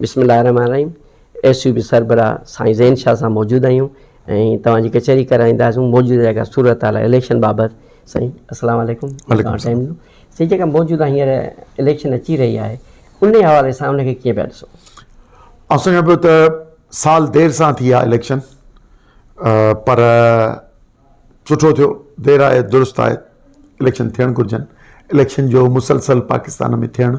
بسم الله الرحمن الرحيم ايس يو بي سربراهه سائين زين شاهه سان موجود آهيون ۽ توهان جي ڪچهري ڪرائينداسون موجوده جيڪا صورتحال آهي اليڪشن بابت سائين السلام عليڪم وعليڪم السلام سائين جيڪا موجوده هينئر اليڪشن اچي رهي آهي ان حوالي سان ان کي ڪيئن پيا ڏسو آء سمجهان پيو ته سال دير سان ٿي آهي اليڪشن پر سٺو ٿيو دير آهي درست آهي اليڪشن ٿيڻ گهرجن اليڪشن جو مسلسل پاڪستان ۾ ٿيڻ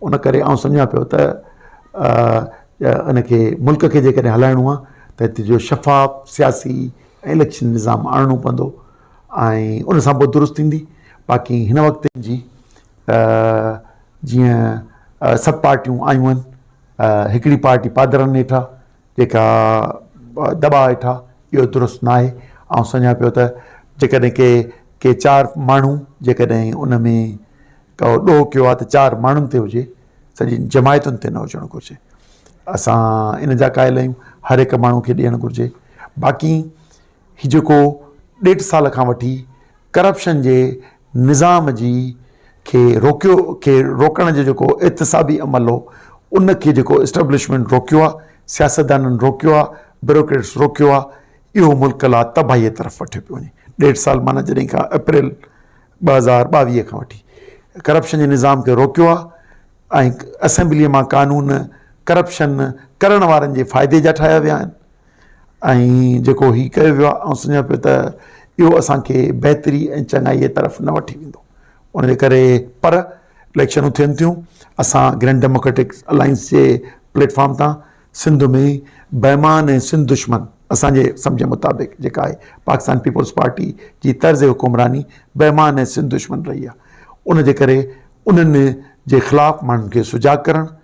ان ڪري آئون سمجهان پيو ته ان کي ملڪ کي جيڪڏهن هلائڻو آهي ته هتي جو شفاف سياسي ۽ اليڪشن نظام آڻڻو پوندو ۽ ان سان پوء درست ٿيندي باقي هن وقت جي جيئن سڀ پارٽيون آيون آهن هڪڙي پارٽي پادرن هيٺ آهي جيڪا دٻاء هيٺ آ اهو درست ناهي آئون سمجهان پيو ته جيڪڏهن ڪي ڪي چار ماڻهو جيڪڏهن ان ۾ ڪو ڏوهه ڪيو آ ته چار ماڻهن تي هجي سڄي جماعتن تي نه هجڻ گهرجي اسان ان جا قائل آهيون هر هڪ ماڻهو کي ڏيڻ گهرجي باقي هي جيڪو ڏيڍ سال کان وٺي ڪرپشن جي نظام جي کي روڪيو کي روڪڻ جو جيڪو احتسابي عمل هو ان کي جيڪو اسٽبلشمنٽ روڪيو آهي سياستدانن روڪيو آهي بيروڪريٽس روڪيو آهي اهو ملڪ لا تباهيء طرف وٺيو پيو وڃي ڏيڍ سال معنيٰ جڏهن کان اپريل ٻه هزار ٻاويهه کان وٺي ڪرپشن جي نظام کي روڪيو آهي اسيمبليء مان قانون ڪرپشن ڪرڻ وارن جي فائدي جا ٺاهيا ويا آهن ۽ جيڪو هي ڪيو ويو آهي، آئون سمجهان پيو ته اهو اسان کي بهتري ۽ چڱائيء طرف نه وٺي ويندو. ان جي ڪري پر اليڪشنون ٿين ٿيون، اسان گرينڊ ڊيموڪريٽڪ الائنس جي پليٽ فارم تان سنڌ ۾ بيمان ۽ سنڌ دشمن، اسان جي سمجهه مطابق جيڪا آهي پاڪستان پيپلز پارٽي جي طرز حڪمراني بيمان ۽ سنڌ دشمن رهي آهي، ان جي ڪري انهن جي خلاف ماڻهن کي سجاڳ ڪرڻ،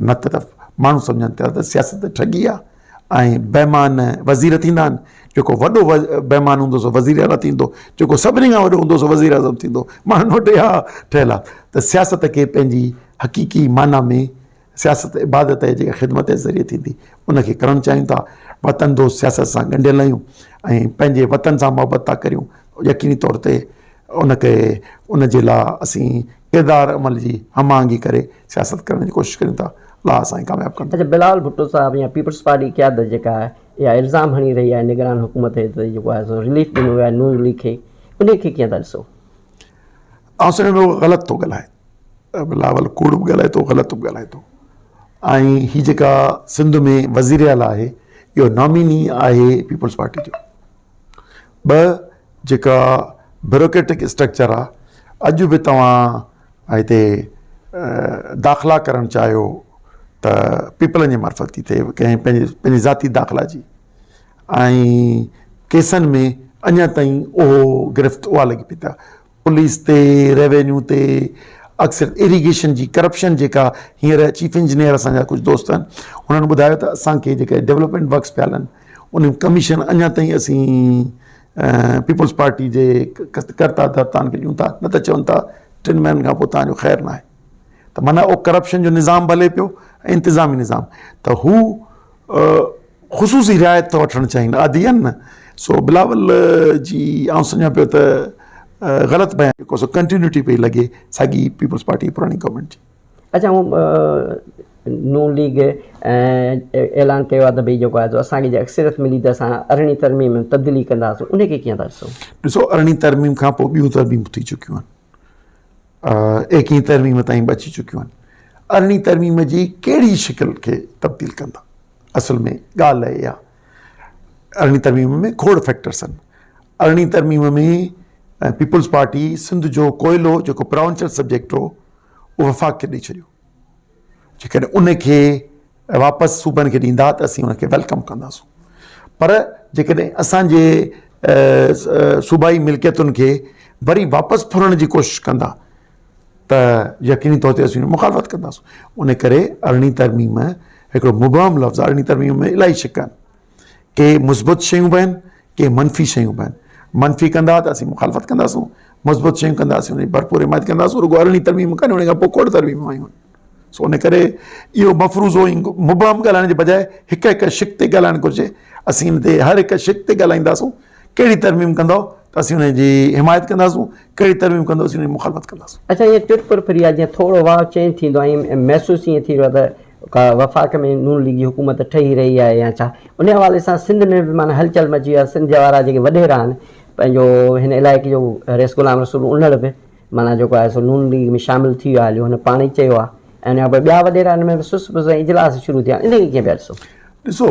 نه ته ماڻهو سمجهن ٿا ته سياست ٺڳي آهي ۽ بيمان وزير ٿيندا آهن، جيڪو وڏو بيمان هوندو سو وزير اعليٰ ٿيندو، جيڪو سڀني کان وڏو هوندو سو وزير اعظم ٿيندو، ماڻهن وٽ اها ٺهيل آهي ته سياست کي پنهنجي حقيقي معنيٰ ۾ سياست عبادت آهي جيڪا خدمت جي ذريعي ٿيندي ان کي ڪرڻ چاهيون ٿا، وطن دوست سياست سان ڳنڍيل آهيون ۽ پنهنجي وطن سان محبت ٿا ڪريون يقيني طور تي ان کي ان جي لاء اسين. ادار عمل جي هم آهنگي ڪري سياست ڪرڻ جي ڪوشش ڪريون ٿا الله اسانکي ڪامياب ڪندو. اچا بلال ڀٽو صاحب يا پيپلز پارٽي قيادت جيڪا آهي اها الزام هڻي رهي آهي نگران حڪومت هيٺ ته جيڪو آهي سو رليف ڏنو ويو آهي نون ليگ کي انهي کي ڪيئن ٿا ڏسو؟ آئون سمجهان ٿو غلط ٿو ڳالهائي بلاول ڪوڙ به ڳالهائي ٿو غلط به ڳالهائي ٿو ۽ هي جيڪا سنڌ ۾ وزير اعليٰ آهي اهو ناميني آهي پيپلز پارٽي جو ٻه جيڪا بيوروڪريٽڪ اسٽرڪچر آ اڄ به توهان هتي داخلا ڪرڻ چاهيو ته پيپلن جي معرفت ٿي ٿئي ڪنهن پنهنجي پنهنجي ذاتي داخلا جي ۽ ڪيسن ۾ اڃا تائين اهو گرفت اها لڳي پئي ته پوليس تي، ريونيو تي، اڪثر ايريگيشن جي ڪرپشن جيڪا هينئر چيف انجنيئر اسان جا ڪجهه دوست آهن انهن ٻڌايو ته اسان کي جيڪي ڊولپمينٽ ورڪس پيا هلن ان جي ڪميشن اڃا تائين اسين پيپلز پارٽي جي ڪرتا ڌرتائن کي ڏيون ٿا نه ته چون ٿا ٽن مهينن کان پوء تان جو خير ناهي ته معنيٰ اهو ڪرپشن جو نظام به هلي پيو ۽ انتظامي نظام ته هو خصوصي رعايت ٿا وٺڻ چاهين عادي آهن نه سو بلاول جي آئون سمجهان پيو ته غلط بيان ڪو سو ڪنٽينيوٽي پئي لڳي ساڳي پيپلز پارٽي پراڻي گورنمنٽ جي اچھا نون ليگ اعلان ڪيو آهي ته ڀئي جيڪو آهي اسانکي جي اڪثريت ملي ته اسان ارڙهين ترميم تبديلي ڪنداسون ان کي ڪيئن ٿا ڏسو؟ ڏسو ارڙهين ترميم کان پوء ٻيون ترميمون ٿي چڪيون آهن ايڪيهين ترميم تائين به اچي چڪيون آهن. ارڙهين ترميم جي ڪهڙي شڪل کي تبديل ڪندا؟ اصل ۾ ڳالهه اهي آهي ارڙهين ترميم ۾ کوڙ فيڪٽرس آهن. ارڙهين ترميم ۾ پيپلز پارٽي سنڌ جو ڪوئلو جيڪو پراونچر سبجيڪٽ هو اهو وفاق کي ڏئي ڇڏيو. جيڪڏهن ان کي واپس صوبن کي ڏيندا ته اسين ان کي ويلڪم ڪنداسون پر جيڪڏهن اسانجي صوبائي ملڪيتن کي وري واپس ڦرڻ جي ڪوشش ڪندا ته يقيني طور تي اسين مخالفت ڪنداسون ان ڪري ارڙهين ترميم هڪڙو مبهم لفظ ارڙهين ترميم ۾ الاهي شڪ آهن ڪي مثبت شيون به آهن ڪي منفي شيون به آهن منفي ڪندا ته اسين مخالفت ڪنداسون مثبت شيون ڪندا اسين انهي ڀرپور حمايت ڪنداسون رڳو ارڙهين ترميم ڪانهي انهي کان پوء کوڙ ترميمون آيون آهن سو ان ڪري اهو مفروضو ۽ مبهم ڳالهائڻ جي بجاء هڪ هڪ شق تي ڳالهائڻ گهرجي اسين ان تي هر هڪ شق تي ڳالهائينداسون ڪهڙي ترميم ڪندؤ ته اسين ان جي حمايت ڪنداسون، ڪهڙي ترميم ڪندؤ اسين ان جي مخالفت ڪنداسون. اچا ائين تر پر ڦري آ جيئن ٿورو واء چينج ٿيندو آ ۽ محسوس ائين ٿي رهيو آ ته ڪا وفاق ۾ نون ليگي حڪومت ٺهي رهي آهي يا ڇا؟ ان حوالي سان سنڌ ۾ به معنيٰ هلچل مچي وئي آ، سنڌ جا وارا جيڪي وڏيرا آهن پنهنجو هن علائقي جو رئيس غلام رسول انڙ به معنيٰ جيڪو آهي سو نون ليگ ۾ شامل ٿي ويو آهي هليو هن پاڻ ئي چيو آ ۽ ان کان پوء ٻيا وڏيرا ان ۾ به سست پست ۽ اجلاس شروع ٿيا آهن انهن کي ڪيئن پيا ڏسو؟ ڏسو!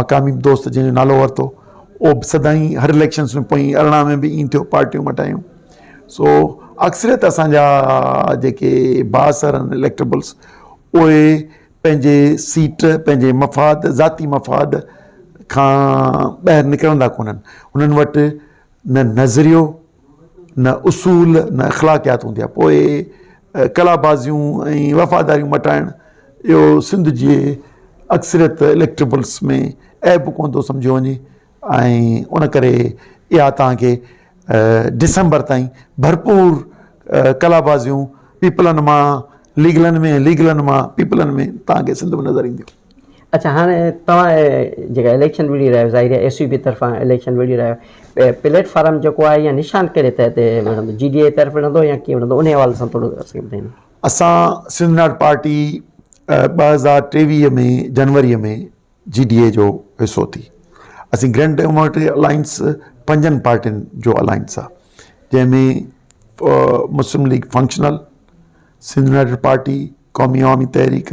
مقامي دوست جنهن جو نالو ورتو اهو به سدائين هر اليڪشنس ۾ پوئين ارڙهن ۾ به ائين ٿيو پارٽيون مٽايون سو اڪثريت اسان جا جيڪي بااثر آهن اليڪٽبلس اهي پنهنجي سيٽ پنهنجي مفاد ذاتي مفاد کان ٻاهر نڪرندا ڪونهن هنن وٽ نه نظريو نه اصول نه اخلاقيات هوندي آهي پوء قلابازيون ۽ وفاداريون مٽائڻ اهو سنڌ جي اڪثريت اليڪٽبلس ۾ عيب ڪونه ٿو سمجهيو وڃي ۽ ان ڪري اها توهان کي ڊسمبر تائين ڀرپور قلابازيون پيپلن مان ليگلن ۾ ليگلن مان پيپلن ۾ توهان کي سنڌ ۾ نظر اينديون اڇا هاڻي توهان جيڪا اليڪشن وڙهي رهيا آهيو ظاهري ايس يو پي طرفان اليڪشن وڙهي رهيا آهيو پليٽ فارم جيڪو آهي يا نشان ڪهڙي تحت وڙهندو جي ڊي اي طرف وڙهندو يا ڪيئن وڙهندو ان حوالي سان ٿورو اسان کي ٻڌائيندا اسان سنڌ ناٽ پارٽي ٻه هزار ٽيويهه ۾ جنوري ۾ جي ڊي اي جو حصو ٿي اسين گرينڊ ڊيموڪريٽ الائنس پنجن پارٽين جو الائنس آهي جنهن ۾ مسلم ليگ فنڪشنل سنڌ ناٽ پارٽي قومي عوامي تحريڪ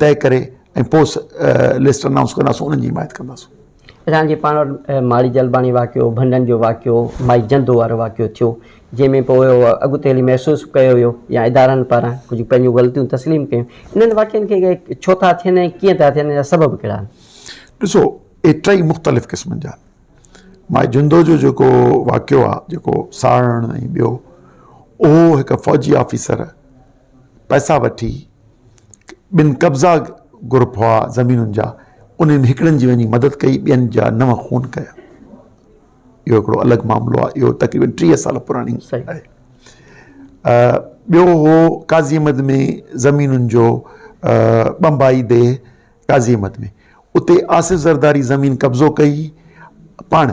طئي ڪري ۽ پوء لسٽ انائونس ڪنداسون انهن جي حمايت ڪنداسون. رحان جي پاڻ وٽ ماڙي جلباڻي واقعو، ڀنڊن جو واقعو، مائي جندو وارو واقعو ٿيو جنهن ۾ پوء اڳتي هلي محسوس به ڪيو ويو يا ادارن پاران ڪجهه پنهنجون غلطيون تسليم ڪيون انهن واقعن کي ڇو ٿا ٿين ۽ ڪيئن ٿا ٿين ان جا سبب ڪهڙا آهن؟ ڏسو اهي ٽئي مختلف قسمن جا آهن. مائي جندو جو جيڪو واقعو آهي جيڪو ساڙڻ ۽ ٻيو اهو هڪ فوجي آفيسر پئسا وٺي ٻن قبضا گروپ هئا زمينن جا انهن ۾ هڪڙن جي وڃي مدد ڪئي ٻين جا نو خون ڪيا اهو هڪڙو الڳ معاملو آهي اهو تقريبن ٽيهه سال پراڻي آهي ٻيو هو قاضي احمد ۾ زمينن جو بمبائي دي قاضي احمد ۾ اتي آصف زرداري زمين قبضو ڪئي پاڻ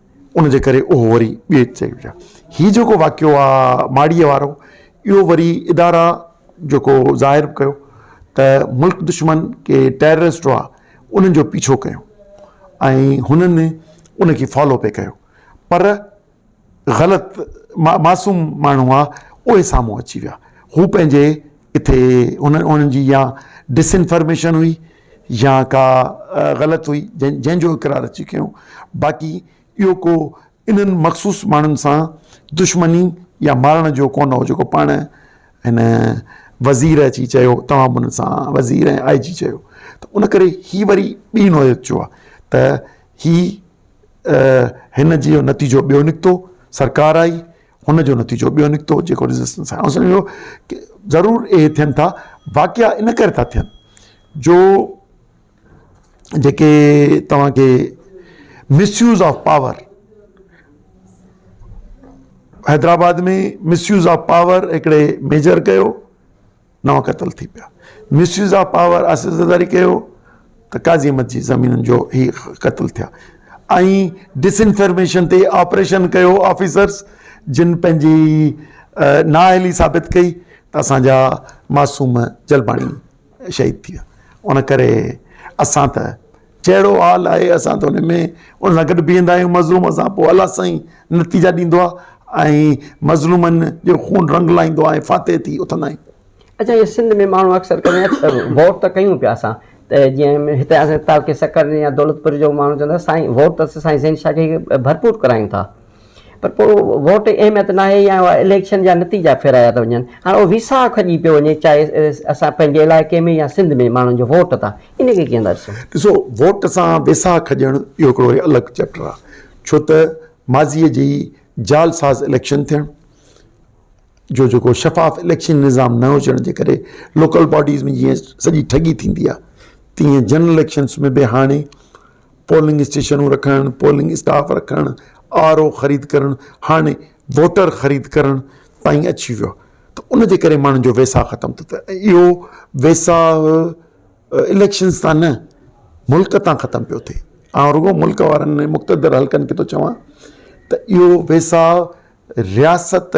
ان جي ڪري اهو وري ٻئي چئي وجهه هي جيڪو واقعو آ ماڙيء وارو اهو وري ادارا جيڪو ظاهر به ڪيو ته ملڪ دشمن ڪي ٽيررسٽ هئا انهن جو پيڇو ڪيو ۽ هنن ان کي فالو پئي ڪيو پر غلط معصوم ماڻهو هئا اهي سامهون اچي ويا هو پنهنجي ڪٿي انهن جي يا ڊس انفارميشن هئي يا ڪا غلط هئي جنهن جنهن جو اقرار اچي ڪيو باقي اهو ڪو انهن مخصوص ماڻهن سان دشمني يا مارڻ جو ڪونه هو جيڪو پاڻ هن وزير اچي چيو تمام هن سان وزير ۽ آء جي چيو ته ان ڪري هي وري ٻي نوعيت جو آ ته هي هن جي نتيجو ٻيو نڪتو سرڪار آئي ان جو نتيجو ٻيو نڪتو جيڪو ريزسٽنس آهي سمجهه ايو ڪي ضرور اهي ٿين ٿا واقعا ان ڪري ٿا ٿين جو جيڪي توهان کي misuse of power Hyderabad ۾ misuse of power هڪڙي ميجر ڪيو نو قتل ٿي پيا، misuse of power Asif Zardari ڪيو ته قاضي احمد جي زمينن جو هي قتل ٿيا ۽ ڊس انفرميشن تي آپريشن ڪيو آفيسرز جن پنهنجي نااهلي ثابت ڪئي ته اسان جا معصوم جلباڻي شهيد ٿي ويا ان ڪري اسان ته جهڙو حال آهي اسان ته ان ۾ ان سان گڏ بيهندا آهيون مظلوم سان پوء الله سائين نتيجا ڏيندو آهي ۽ مظلومن جو خون رنگ لائيندو آهي فاتح ٿي اٿندا آهيون. اچا اهي سنڌ ۾ ماڻهو اڪثر ڪري ووٽ ته ڪيون پيا اسان ته جيئن هتي اسان تعلقي سکر يا دولتپور جو ماڻهو چوندا سائين ووٽ ته اسين سائين زين شاهه کي ڀرپور ڪرايون ٿا پر پوء ووٽ جي اهميت ناهي يا اها اليڪشن جا نتيجا ڦيرايا ته وڃن. هاڻ اهو ويساهه کڄي پيو وڃي چاهي اسان پنهنجي علائقي ۾ يا سنڌ ۾ ماڻهن جو ووٽ تان ان کي ڪيئن ٿا ڏسون؟ ڏسو ووٽ سان ويساهه کڄڻ اهو هڪڙو وري الڳ چيپٽر آهي ڇو ته ماضيء جي جعل ساز اليڪشن ٿيڻ جو جيڪو شفاف اليڪشن نظام نه هجڻ جي ڪري لوڪل باڊيز ۾ جيئن سڄي ٺڳي ٿيندي آهي تيئن جنرل اليڪشنس ۾ به هاڻي پولنگ اسٽيشنون رکڻ، پولنگ اسٽاف رکڻ، آر او خريد ڪرڻ هاڻي ووٽر خريد ڪرڻ تائين اچي ويو آهي ته ان جي ڪري ماڻهن جو ويساهه ختم ٿو ٿئي ۽ اهو ويساهه اليڪشنز تان نه ملڪ تان ختم پيو ٿئي آئون رڳو ملڪ وارن ۾ مقتدر حلقن کي ٿو چوان ته اهو ويساهه رياست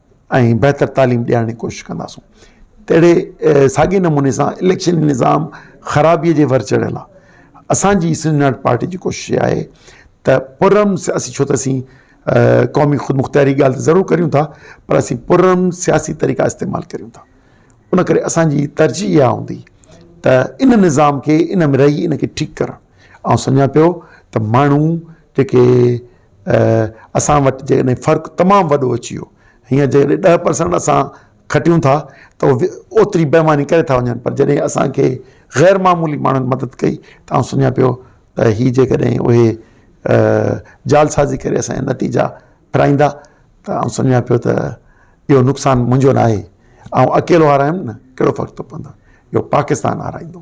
۽ بهتر تعليم ڏيارڻ جي ڪوشش ڪنداسون تهڙي ساڳي نموني سان اليڪشن نظام خرابي جي ور چڙهيل آهي اسان جي سنڌ پارٽي جي ڪوشش اها آهي ته پرم اسين ڇو ته اسين قومي خودمختياري ڳالهه ته ضرور ڪريون ٿا پر اسين پرم سياسي طريقا استعمال ڪريون ٿا ان ڪري اسان جي ترجيح اها هوندي ته ان نظام کي ان ۾ رهي ان کي ٺيڪ ڪرڻ آئون سمجهان پيو ته ماڻهو جيڪي اسان وٽ جيڪڏهن فرق تمام وڏو اچي ويو هينئر جيڪڏهن ڏهه پرسنٽ اسان کٽيون ٿا ته اوتري بيماني ڪري ٿا وڃن پر جڏهن اسانکي غير معمولي ماڻهن مدد ڪئي ته آئون سمجهان پيو ته هي جيڪڏهن اهي جال سازي ڪري اسانجا نتيجا ڦرائيندا ته آئون سمجهان پيو ته اهو نقصان منهنجو ناهي آئون اڪيلو هارايم نه ڪهڙو فرق ٿو پوندو اهو پاڪستان هارائيندو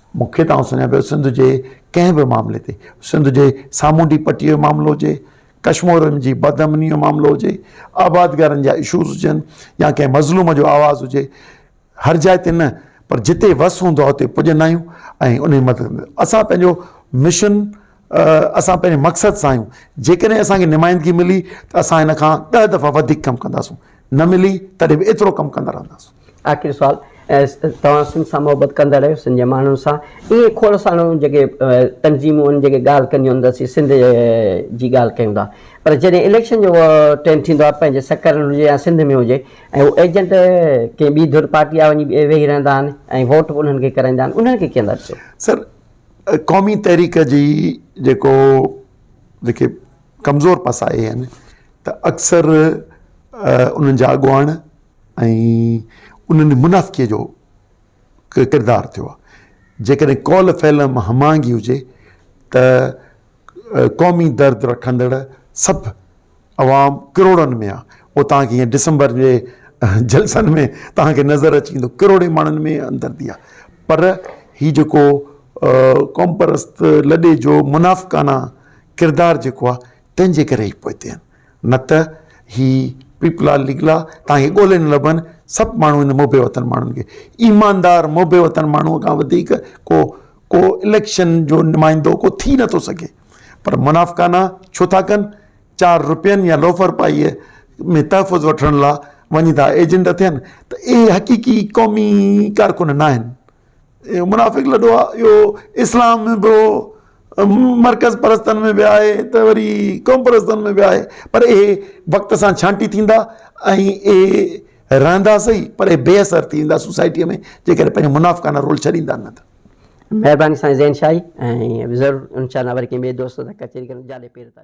مون کي توهان سڃان پيو سنڌ جي ڪنهن به معاملي تي سنڌ جي سامونڊي پٽي جو معاملو هجي ڪشمورين جي بد امني جو معاملو هجي آبادگارن جا اشوز هجن يا ڪنهن مظلوم جو آواز هجي هر جاء تي نه پر جتي وس هوندو آهي اتي پڄندا آهيون ۽ انهي مدد ۾ اسان پنهنجو مشن اسان پنهنجي مقصد سان آهيون جيڪڏهن اسان کي نمائندگي ملي ته اسان هن کان ڏهه دفعا وڌيڪ ڪم ڪنداسون نه ملي تڏهن به ايترو ڪم ڪندا رهنداسون آخري سوال توهان سنڌ سان محبت ڪندڙ آهيو سنڌ جي ماڻهن سان ائين کوڙ ساڻن جيڪي تنظيمون آهن جيڪي ڳالهه ڪنديون آهن ته اسين سنڌ جي ڳالهه ڪيون ٿا پر جڏهن اليڪشن جو ٽيم ٿيندو آهي پنهنجي سکر هجي يا سنڌ ۾ هجي ۽ هو ايجنٽ ڪنهن ٻي ڌر پارٽي آ وڃي ويهي رهندا آهن ۽ ووٽ به انهن کي ڪرائيندا آهن انهن کي ڪيئن ڏسو سر قومي تحريڪ جي جيڪو جيڪي ڪمزور پساهي آهن ته اڪثر انهن جا اڳواڻ ۽ انهن منافقي جو ڪردار ٿيو آهي. جيڪڏهن قول فعل ۾ هم آهنگي هجي ته قومي درد رکندڙ سڀ عوام ڪروڙن ۾ آهي. اهو توهان کي هينئر ڊسمبر جي جلسن ۾ توهان کي نظر اچي ويندو. ڪروڙين ماڻهن ۾ همدردي آهي. پر هي جيڪو قومپرست لڏي جو منافقانه ڪردار جيڪو آهي تنهن جي ڪري هي پوئتي آهن. نه ته هي پيپلا ليگلا تان هي ڳولهي نه لڀن، سڀ ماڻهو هن محب وطن ماڻهن کي ايماندار محب وطن ماڻهوء کان وڌيڪ ڪو ڪو اليڪشن جو نمائندو ڪو ٿي نه ٿو سگهي پر منافقانا ڇو ٿا ڪن چار روپين يا لوفر پائيء ۾ تحفظ وٺڻ لا وڃي ٿا ايجنٽ ٿين ته اهي حقيقي قومي ڪارڪن نه آهن. اهو منافق لڏو آ اهو اسلام ۾ به هو مرڪز پرستن ۾ به آهي ته وري قوم پرستن ۾ به آهي پر اهي وقت سان ڇانٽي ٿيندا ۽ اهي رهندا سهي پر اهي بي اثر ٿي ويندا سوسائٽيء ۾ جيڪڏهن پنهنجو منافقانه رول ڇڏيندا نه ته. مهرباني سائين زين شاهي ۽ ضرور انشاء الله وري ڪنهن ٻئي دوست سان ڪچهري ڪندس جاڏي پير تاريخ.